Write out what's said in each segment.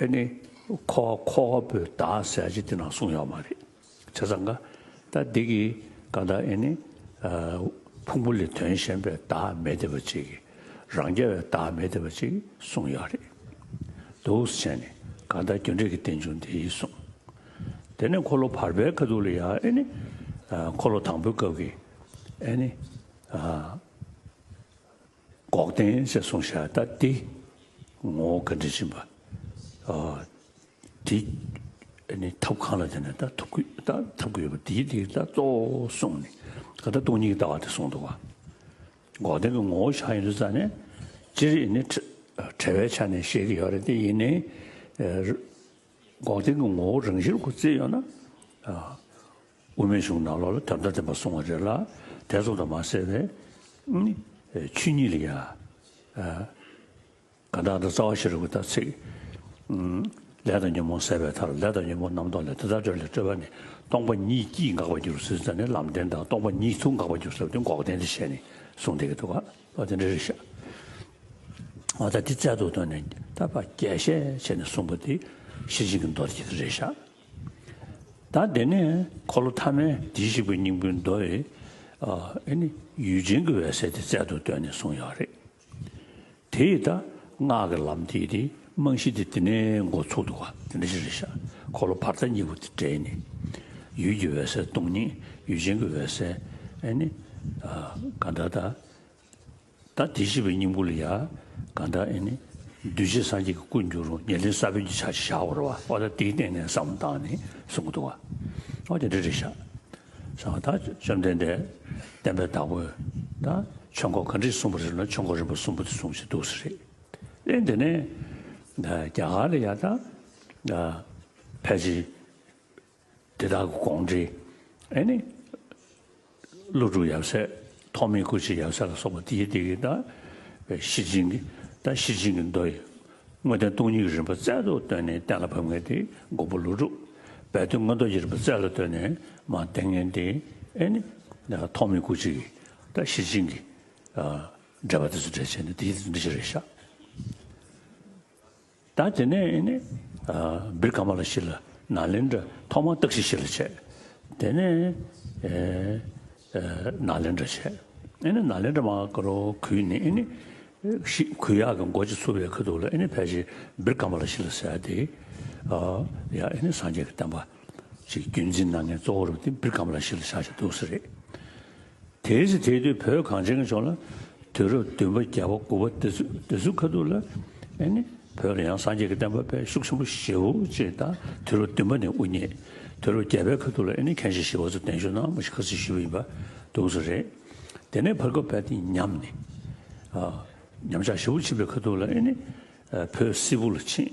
ཨེ་ནི། ཁོ་ཁོ་བོས་བདག་ཟས་ཅི་སྟེ་ན་གསུངས་ཡོད་མ་རེད། བྱས་ཙང་ཀ། ད་འདི་གི་ཀ་ད་ཨེ་ནི། ཕུང་པོ་ལས་དོན་གཞན་པའི་བདག་མེད་བདེ་བ་གཅིག་གིས་རང་རྒྱལ་བའི་བདག་མེད་བདེ་བ་གཅིག་གསུངས་ཡོད་རེད། འདུག་བྱས་ནས་ཀ་ད་རྒྱུ་འབྲས་ཀྱི་རྟེན་འབྱུང་འདི་ཡིན་གསུངས། དེ་ནས་འཁོར་ལོ་བར་པའི་ཁ་ཐུག་ལ་ཡང་ཨེ་ནི། འཁོར་ལོ་དང་པོའི་སྐབས་ཀྱི་ཨེ་ནི། འགོག་བདེན་ཞེས་གསུངས་ཤ་སྟག་སྟེ། ངོ་བོ་ག་འདྲས་ཕྱིན་པ། དེ་ནི་ཐབས་གང་ལ་བརྟེན་ནས་ཐབས་ཐོབ་ཀྱི་ཡོད་པ་དེའི་དེ་ལྟར་གཙོ་བོ་གསུངས་ནས་ག་ད་སྟོང་ཉིད་ཀྱི་ལྟ་བ་དེ་གསུངས་འདུག་བ། འགོག་བདེན་གྱི་ངོ་བོ་གཞག་ཡིན་དུ་བཙལ་ནས། སྤྱིར་ཡིན་ནི་བྲལ་བའི་ཆ་ནས་བཤད་ཀྱི་ཡོད་རེད་དེ་ཡིན་ནི། འགོག་བདེན་གྱི་ངོ་བོ་རང་བཞིན་སྐུ་བཙལ་ཡོད་ན། དབུ་མའི་གཞུང་ནག་ལོག་ལ་དམ་བསྒྲགས་བསྟན་པ་སོང་བ་རེད་ལ་དད་བཙོང་དང་མ་བསྲེས་པའི་ཆོས་ཉིད་ལ་ཡང་དགའ་འདག་དང་རྩ་བ་ཤི་རུ་གི་དག་ཚིག་ལས་དང་ཉོན་མོངས་བསལ་བའི་མཐར་ལས་དང་ཉོན་མོངས་རྣམ་རྟོག་ལས་དེ་དག་སྤྲོས་ལས་སྤྲོས་པ་ནི་སྟོང་པ་ཉིད་ཀྱིས་འགག་པར་འགྱུར་ཟེར་ས་ནི་ལམ་བདེན་དང་སྟོང་པ་ཉིད་དུ་འགག་པར་འགྱུར་ཟེར་བ་དེ་འགོག་བདེན་དུ་བཤད་ནས་གསུངས་བསྡད་ཀྱི་འདུག་ག་ལོག་དེ་འདྲ་རེད་ཤག་ང་ད་འདི་བཙལ་འདུག་དོན་ནི་ད་བར་རྒྱས་བཤད་བྱས་ནས་གསུངས་པ་དེ་ཤེས་བཞིན་གྱི་མདོར་གྱི་རེད་ཤག། ད་དེ་ནས་འཁོར་ལོ་ཐ་མའི་དྲི་བཞི་པའི་སྙིང་པོའི་མདོ་ཡི། ཡུལ་ཅན་གྱི་འོད་གསལ་དེ་རྩལ་དུ་བཏོན་ནས་གསུངས་ཡོད་རེད། དེ་ཡི་ད་སྔགས་ཀྱི་ལམ་དེའི་དེའི་རྨང་གཞི་དེ་དེ་ནས་འགོ་ཚུགས་འདུག་བ་དེ་འདྲ་ཞིག་རེད་ཤག་འཁོར་ལོ་བར་ཐག་གཉིས་པོ་དེ་སྦྲེལ་ནས། ཡུལ་གྱི་འོད་གསལ་སྟོང་ཉིད་ཡུལ་ཅན་གྱི་འོད་གསལ། གང་ལྟར་ད། ད་དེ་བཞི་པའི་སྙིང་པོ་ལ་ཡང་གང་དག་ཨེ་ནི། གདུལ་བྱའི་སངས་རྒྱས་ཀྱི་སྐུར་འགྱུར་རོ་ཉེར་ལེན་ས་བོན་གྱི་ཆ་བཞག་བར་བ་ཨོ་ད་དེའི་སྟེང་ནས་སམ་བཏགས་ནས་གསུང་གི་འདུག་བ་ཨོ་ད་རེ་རེ་བཞག་བསམ་བ་ད་བཅོམ་ལྡན་འདས་བསྟན་པའི་བདག་པོས་ད་ཆོས་འཁོར་ག་འདྲིས་གསུངས་པ་རེད་ལ་ཆོས་འཁོར་རིམ་པ་གསུམ་པོ་དེ་གསུངས་བཞིན་འདུག་ས་རེད། ཨེ་འདི་ནས་རྒྱ་གར་ལ་ཡང་ད་ཕལ་ཆེར། དེ་དག་གི་དགོངས་འགྲེལ་ཨེ་ནི། ཀླུ་སྒྲུབ་ཡབ་སྲས་ཐོགས་མེད་སྐུ་བྱེད་ཡབ་སྲས་ལ་སོགས་པ་དེའི་སྡེ་དགེ་དང་བའི་གཞི་བྱིན་གྱི་དང་གཞི་བྱིན་གྱི་མདོ་ཡི་དངོས་བསྟན་སྟོང་ཉིད་ཀྱི་རིམ་པ་རྩལ་དུ་བཏོན་ནས་གཏན་ལ་ཕབ་ངེས་ཏེ་མགོན་པོ་ཀླུ་སྒྲུབ་སྦས་དོན་མངོན་རྟོགས་ཀྱི་རིམ་པ་རྩལ་ལ་བཏོན་ནས་མ་བསྟན་ངེས་ཏེ་ཨེ་ནི། ཐོགས་མེད་སྐུ་བྱེད་ཀྱི་དང་གཞི་བྱིན་གྱི། འགྲེལ་པ་དེ་ཚོ་འགྲེལ་བྱེད་ནི་དེའི་འགྲེལ་བྱེད་རེད་ཤག། ད་དེ་ནས་ནི། བིར་ཀ་མ་ལ་ཤི་ལ་ན་ལེན་དྲ་ཐོག་མ་སྟག་ཤི་ཤི་ལ་བྱས། དེ་ནས། ན་ལེན་དྲ་བྱས། ཨེ་ནི་ན་ལེན་དྲ་མ་ཀ་རོ་གུས་ནི་ཨེ་ནི། ཤི་གུས་ཡག་གི་མགོ་ཅིག་ཚུར་བས་ཁུ་དུག་ལ་ཨེ་ནི་ཕལ་ཆེར་བིར་ཀ་མ་ལ་ཤི་ལ་ཟེར་ཏེ། ཡ་ཨེ་ནི་སངས་རྒྱས་ཀྱི་བསྟན་པ། ཅིག་རྒྱུད་འཛིན་ན་ངས་གཙོ་བོར་བིར་ཀ་མ་ལ་ཤི་ལ་བྱ་ཞེས་འདུག་ས་རེད། དེའི་ཚེ་དེའི་དུས་བོད་གངས་ཅན་གྱི་ཕྱོགས་ལ་དུས་རབས་བདུན་པ་བརྒྱ་པ་དགུ་པ་དེ་ཚོའི་ཁ་ཐུག་ལ་ནི་བོད་ལ་ཡང་སངས་རྒྱས་ཀྱི་བསྟན་པ་དཔལ་ཤུགས་ཆེན་པོ་བཞི་བོ་ཅེས་དང་དུས་རབས་བདུན་པ་ནས་དབུ་བརྙེས་དུས་རབས་བརྒྱ་པའི་ཁ་ཐུག་ལ་ནི་མཁན་ཆེན་ཞི་བ་འཚོ་བརྟན་ཞུ་ནང་མ་ཞིག་ཁ་ཚིག་ཞུས་པ་ཡིན་པ་འདུག་ཚོ་རེད། དེ་ནས་བར་སྐབས་བལ་ཏིང་ཉམས་ནས་ཉམས་ཆག་ཞི་བོ་ཕྱིན་པའི་ཁ་ཐུག་ལ་ནི་བོད་སིལ་བུ་ལ་ཕྱིན།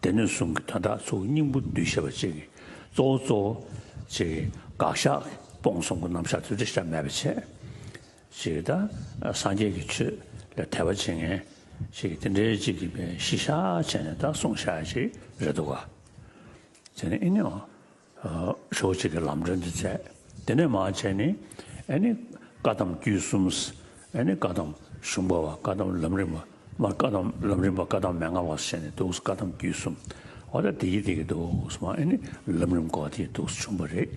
སྡེ་སྣོད་གསུམ་གྱི་དོན་དག་ཚུལ་སྙིང་པོ་འདུས་བྱས་པ་གཅིག་གི་གཙོ་བོ་གཙོ་བོ། གཅིག་གི་དགག་བཞག་སྤོང་གསུམ་གྱི་རྣམ་གཞག་དུས་བྲལ་ཆ་མེད་པ་ཕྱེད། གཅིག་གི་དང་སངས་རྒྱས་ཀྱི་ཆོས་ལ་དད་པ་བྱེད་ངེས། གཅིག་གི་དེ་འདྲའི་གཅིག་གི་པའི་གཞི་བཞག་བྱས་ནས་དག་གསུང་བྱ་ཡ་གཅིག་རེད་འདུག་ག། དེ་ནི་ཨེ་ནུས། ཕྱོགས་གཅིག་གི་ལམ་འབྲས་འདི་བཙལ། དེ་ནས་མང་ཆེ་ནི། ཨེ་ནི། བཀའ་གདམས་རྒྱུད་གསུམ། ཨེ་ནི། བཀའ་གདམས་གཞུང་པ་བ་བཀའ་གདམས་ལམ་རིམ་པ། མར་བཀའ་གདམས་ལམ་རིམ་པ་བཀའ་གདམས་མན་ངག་བ་སོགས་བྱས་ནས་འདུག་བཀའ་གདམས་རྒྱུད་གསུམ། འོ་ད་དེ་གི་དེ་གི་འདུག་སྨྲ་ཨེ་ནི། ལམ་རིམ་གོ་བ་དེ་ཡི་འདུག་བྱུང་བ་རེད།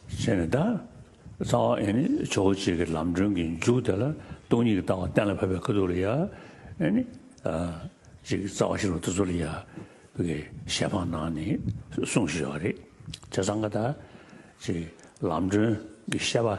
ཞེས་ནི་བརྡ། རྩ་བ་ཨེ་ནི་ཆོས་སྐུ་གཅིག་གི་ལམ་སྒྲོན་གྱི་མཇུག་དེ་ལ་སྟོང་ཉིད་ཀྱི་ལྟ་བ་གཏན་ལ་ཕབ་པའི་ཁ་ཐུག་ལ་ཡང། ཨེ་ནི། གཅིག་རྩ་བ་ཤེས་རབ་ཐུགས་སྲོག་ལ་ཡང། པའི་ཞལ་འཕང་ནང་ནས་གསུངས་ཤེས་བ་རེད། ཅེས་གསང་སྔགས་བརྡ། ཅེས་ལམ་སྒྲོན་གྱི་བཤད་པ།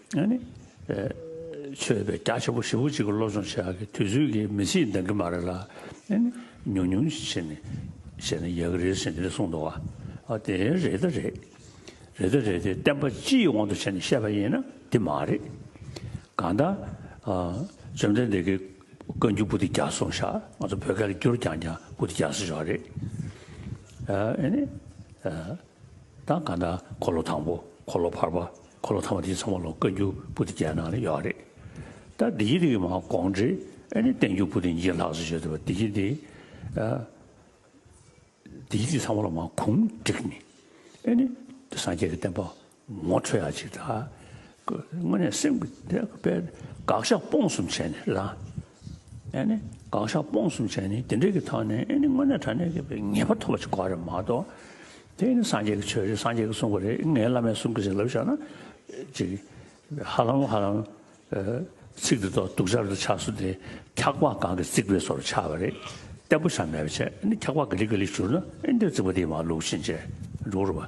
ཆོས་པའི་སྐྱག་ཆེན་པོ་ཧྲིལ་བོ་གཅིག་གི་སློབ་སྦྱོང་བྱེད་ཡག་གི་དུས་ཚོད་ཀྱིས་མི་ཚིས་འདང་གི་མ་རེད་ལ། ཉུང་ཉུང་བྱེད་ནས་བྱས་ན་ཡག་གི་རེད་ཟེར་ནས་གསུངས་འདུག་བ། དེ་རེད་ད་རེད། རེད་ད་རེད་དེ་བསྟན་པ་སྤྱི་ཡི་དབང་དུ་བྱས་ནས་བཤད་པ་ཡིན་ན་དེ་མ་རེད། གང་ལྟར། བཅོམ་ལྡན་འདས་ཀྱི་བཀའ་འགྱུར་པུ་ཏི་བརྒྱ་གསུངས་ཤག་ང་ཚོ་བོད་སྐད་ལ་བསྒྱུར་རྐྱང་རྐྱང་པུ་ཏི་བརྒྱ་གསུངས་ཤོག་རེད། དང་གང་ལྟར་འཁོར་ལོ་དང་པོ་འཁོར་ལོ་བར་པ་འཁོར་ལོ་ཐ་མ་དེའི་ཚང་མ་ལོ་བཀའ་འགྱུར་པུ་ཏི་བརྒྱད་ནང་ལ་ཡོད་རེད། ད་བདེ་སྐྱིད་འདི་མ་དགོངས་འགྲེལ་ཨེ་ནི་བསྟན་འགྱུར་པུ་ཏི་འགྱེད་ལགས་སོ་བྱས་འདུག་བདེ་སྐྱིད་འདི། བདེ་སྐྱིད་འདི་ཚང་མ་ལོ་མ་གུང་བསྒྲིགས་ནི་ཨེ་ནི་སངས་རྒྱས་ཀྱི་བསྟན་པ་ངོ་འཕྲོད་ཡ་གཅིག་དང། དངོས་གནས་སེམས་ཀྱི་དེ་དཔེ་དགག་བཞག་སྤོང་གསུམ་བྱས་ནས་ལ། ཨེ་ནི་དགག་བཞག་སྤོང་གསུམ་བྱས་ནས་དེ་འདྲའི་གི་ཐོག་ནས་ཨེ་ནི་དངོས་གནས་དྲ་གནས་ཀྱི་དཔེ་ངེས་པ་ཐོབ་པ་ཅིག་གོ་རེད་མ་གཏོགས། དེ་ནི་སངས་རྒྱས་ཀྱི་ཆོས་རེད་སངས་རྒྱས་ཀྱི་གསུང་པ་རེད་ངའི་བླ་མས་གསུང་གི་རེད་ལབ་བཞག་ན། ཅིག་ཧ་ལམ་ཧ་ལམ། ཚིག་འདི་དོག་སྡུག་ཆར་དུ་ཆགས་སུ་དེ་འཁྱག་པ་གང་གི་རྩིག་པའི་སོར་ཆགས་པ་རེད། བརྟན་པོ་ཆགས་མེད་པ་ཆགས་ཨེ་ནི་འཁྱག་པ་གི་ལིག་གི་ལིག་གྱུར་ན་ཨེ་འདིར་རྩིག་པ་དེའི་མ་ལུག་ཕྱིན་ཅི་འགྲོ་རུ་བ།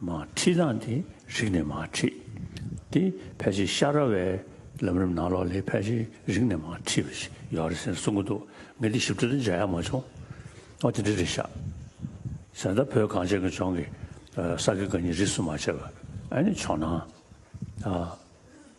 མ་ཁྲིད་སྟངས་དེ་རིག་ནས་མ་ཁྲིད་དེ་ཕལ་ཆེར་ཤ་ར་བའི་ལམ་རིམ་ནང་ལོག་ལས་ཕལ་ཆེར་རིག་ནས་མ་ཁྲིད་པ་ཞིག་ཡོད་རེད་ཟེར་གསུང་གི་འདུག་ངས་དེ་ཞིབ་ཕྲ་དུ་མཇལ་ཡ་མ་བྱུང། ཨོ་དེ་འདྲ་རེད་ཤག་ཟེར་ད་བོད་གངས་ཅན་གྱི་ལྗོངས་ཀྱི་ས་དགེ་དགའ་ཉེ་རིས་སུ་མ་ཆད་པར་ཨ་ནི་ཆོག་ན།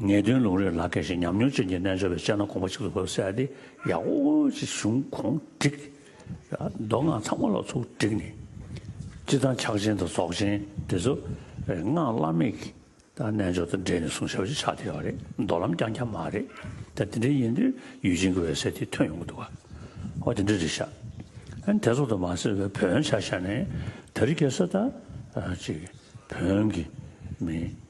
ངེས་དོན་ལུང་རིགས་ལག་འཁེལ་ཞིང་ཉམས་མྱོང་ཅན་གྱི་རྣལ་འབྱོར་པའི་སྤྱན་སྣ་གོང་མ་གཅིག་ཏུ་བབས་གསལ་ཏེ་ཡག་པོ་ཞིག་བྱུང་གོང་བསྒྲིགས། མདོ་སྔགས་ཚང་མ་ལ་ཚུགས་བསྒྲིགས་ནས། སྤྱི་དང་ཕྱག་ཆེན་དང་རྫོགས་ཆེན་འདི་ཚོ་སྔགས་བླ་མེད་དང་རྣལ་འབྱོར་དང་སྦྲེལ་ནས་གསུང་ཞབས་ཀྱི་ཕྱག་བསྟེན་བ་རེད་མདོ་ལམ་རྐྱང་རྐྱང་མ་རེད། ད་དེ་འདྲ་ཡིན་དུས་ཡུལ་ཅན་གྱི་འོད་གསལ་དེ་ཐོན་ཡོང་གི་འདུག་ག་ཨོ་དེ་འདྲ་རེད་ཤག་ཨན་དེ་ཚོ་དང་མ་ཟེར་བའི་བོན་ཆ་ཤ་ནས་ད་རི་གས་ས་ད་ཅིག་བོན་གྱི་མི་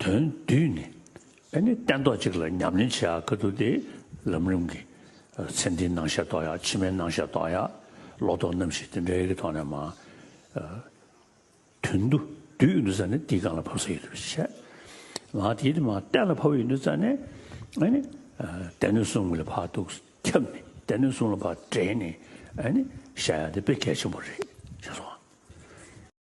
དོན་བསྡུས་ནི། ཨེ་ནི་སྟན་ཐོག་གཅིག་ལ་ཉམས་ལེན་བྱེད་ཡག་གི་འདུག་སྟེ། ལམ་རིམ་གྱི། ཚེ་འདིའི་སྣང་ཤས་རྟོགས་ཡག་ཕྱི་མའི་སྣང་ཤས་རྟོགས་ཡག། ལོག་རྟོག་རྣམ་ཤེས་དེ་འདྲའི་ཡི་གེ་ཐོག་ནས་མ། དོན་བསྡུ་བསྡུས་འདུག་ས་ནི་དེའི་སྒང་ལ་ཕབ་ས་ཡོད་དུ་བཤད། ང་དེའི་དུས་མ་གཏད་ལ་ཕབ་ཡོད་འདུག་ས་ནི། ཨེ་ནི། སྡེ་སྣོད་གསུམ་གྱི་ལ་ཕག་དུག་ཁྱབ་ནས་སྡེ་སྣོད་གསུམ་ལ་ཕག་འདྲེས་ནས། ཨེ་ནི། བཤད་ཡག་འདི་དཔེ་གལ་ཆེན་པོ་རེད། ཞེས་སོགས།